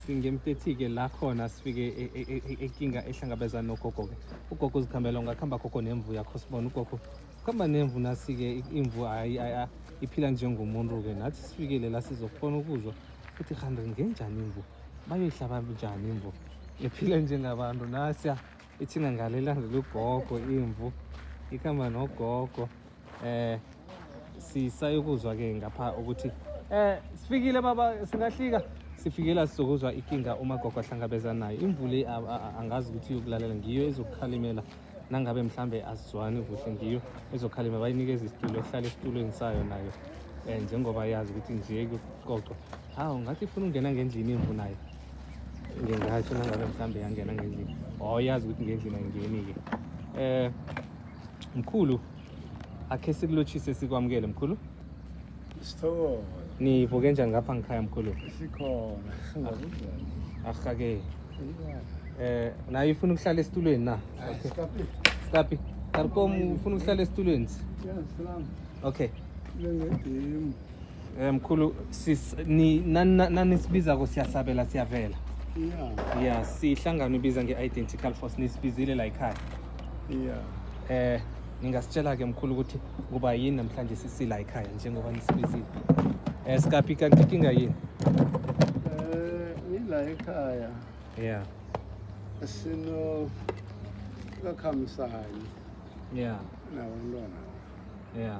ngemtethi-ke la khona sifike e, e, e, ekinga ehlangabezana nogogo-ke ugogo uzikhambela ungakuhamba gogo nemvu yakho sibona ugogo kuhamba nemvu nasi-ke imvu iphila njengomuntu-ke nathi sifikele la sizokufona ukuzwa ukuthi kanti ngenjani imvu bayoyihlaba njani imvu ephile njengabantu nasiya ithina ngale ilandela ugogo imvu ikhamba nogogo eh sisayokuzwa ke ngapha ukuthi eh sifikile baba singahlika sifikela sizokuzwa ikinga umagogo ahlangabezana nayo imvule angazi ukuthi iyokulalela ngiyo ezokukhalimela nangabe mhlambe asizwani kuhle ngiyo ezokhalima bayinikeza isitulo yokuhlala esitulweni sayo nayo um njengoba yazi ukuthi nje kuxoxwa hawu ngathi ifuna ukungena ngendlini imvu nayo ngingasho nangabe mhlawumbe yangena ngendlini or yazi ukuthi ngendlini ayingeni-ke eh mkhulu akhe sikulotshise sikwamukele mkhulu Sithokoza. nivuke njani ngapha ngikhaya mkhulu Sikhona. Singakunjani? ahake eh naye ufuna ukuhlala esitulweni na Sikaphi? Tapi, Tarkom ufuna ukuhlala esitulweni. Yes, salam. Okay. Lengedemu. Eh, mkhulu sis ni nanisibiza ko siyasabela siyavela yeah yeah sihlangana ubiza nge-identical force nisibizile la ekhaya yeah eh ningasitshela ke mkhulu ukuthi kuba yini namhlanje sisila ekhaya njengoba nisibizile eh sikaphi kanti inkinga yini eh ngila ekhaya yeah sino kakhamisani yeah nabantwana yeah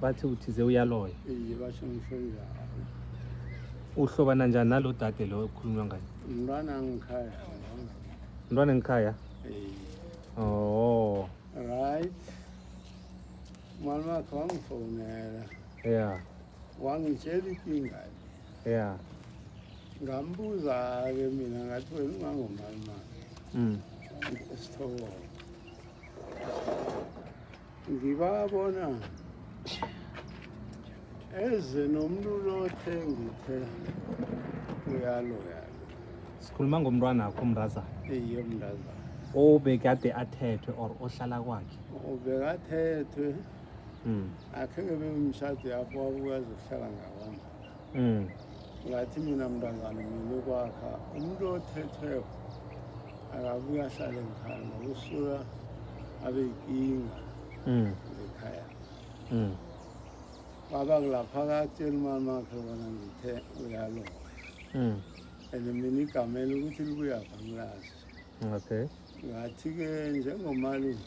bathi uthize uyaloya iye basho ngisho njalo uhlobana njani nalo dade lo ekukhulunywa ngayo umntwana angikhaya mntwana engikhaya iye oh right mali wakhe wangifonela yeah wangitshela ikinga le yeah ngambuza-ke mina ngathi wena ungangomali mali mm esithokoza ngibabona eze nomuntu lothe ngithe uyalo yalo sikhuluma ngomntwana akho mraza iye mndaza obekade athethwe or ohlala kwakhe ubekathethwe mm. akhe ngebemshado yakho wabukazi ukuhlala ngakwami Mm. Ngathi mina mntazana mina ukwakha umuntu othetheko akabuye ahlale ngikhaya ngoba usuka abe yinkinga mm. ngekhaya mm. baba kulapha akatshela umama wakhe bona ngithe uyaloya mm. and mina igamela ukuthi libuya vangilazi okay ngathi-ke njengomalume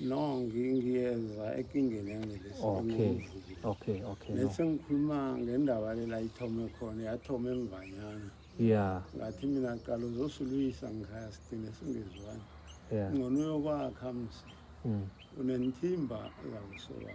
No, ngiyeza ekingeni yangelesi. Okay. Okay, okay. Lesi ngikhuluma ngendaba le la ithome khona, yathoma emvanyana. Yeah. Ngathi mina qala uzosilwisa ngikhaya sithine singezwani. Yeah. Ngcono uyokwakha msi. Mm. Unenthimba la usola.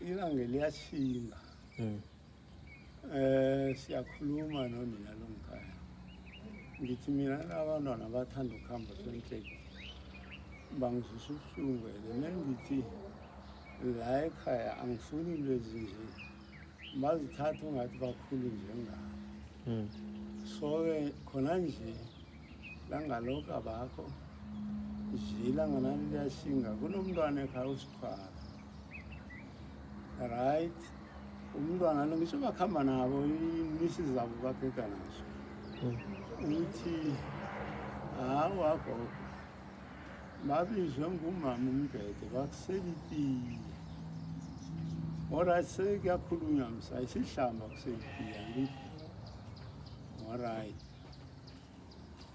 Ilanga liyashinga. Mm. Eh siyakhuluma nonina lomkhaya. Ngithi mina abantwana bathanda ukuhamba senhleki. Bangizwisa ubuhlungu mina ngithi la ekhaya angifuni lezi nje. Bazithatha ungathi bakhulu njengami. Mm. So ke khona nje langalokho abakho. Zila nganani liyashinga kunomntwana ekhaya usikhwala. right umntwana lo ngisho bakuhamba nabo imisi zabo babheka nazo ukuthi hawa gogo babizwe ngumama umbhede bakuselitiye orit sekuyakhulunywa msa isihlamba kuselitiye angithi orit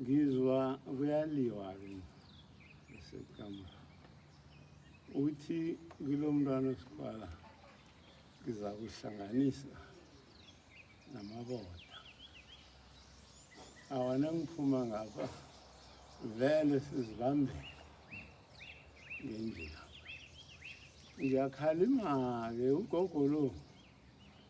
ngizwa kuyaliwa ke esekama uthi kulo mntwana osikwala ngiza kuhlanganisa namaboda awana ngiphuma ngapha vele sizibambele ngendlela ngiyakhalima-ke ugogo lo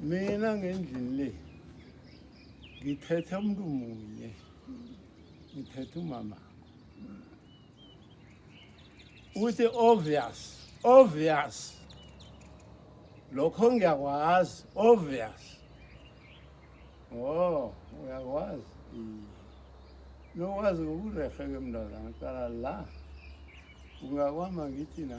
mina ngendlini le ngithethe umuntu munye ngithethe umama uthi obvious obvious lokho ngiyakwazi obvious oh uyakwazi nokwazi ngokurehe ke mntazana cala la ungakwama ngithi na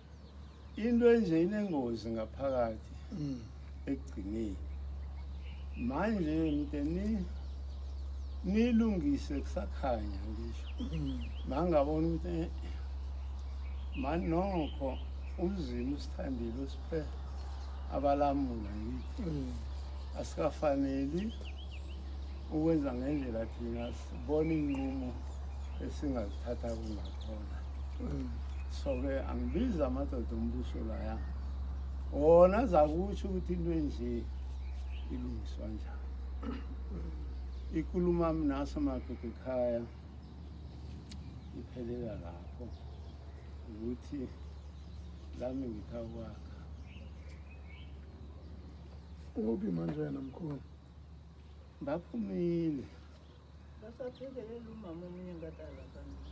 into enje inengozi ngaphakathi mm. ekugcineni manje mnteni nilungise kusakhanya ngisho mm. mangabona ukuthi eh, mani nokho umzima usithandile usiphe abalamula ngithi mm. asikafaneli ukwenza ngendlela thina sibona iy'nqumo esingazithatha kungakhona mm. so-ke angibizi amadoda ombuso laya wona zakusho ukuthi into enje ilungiswa njani ikuluma mnaso madoda ekhaya iphelela lapho ukuthi lami ngithakwakha ukuphi manje wena mkhulu baphumile basaphekelele umama omunye ngadala kanti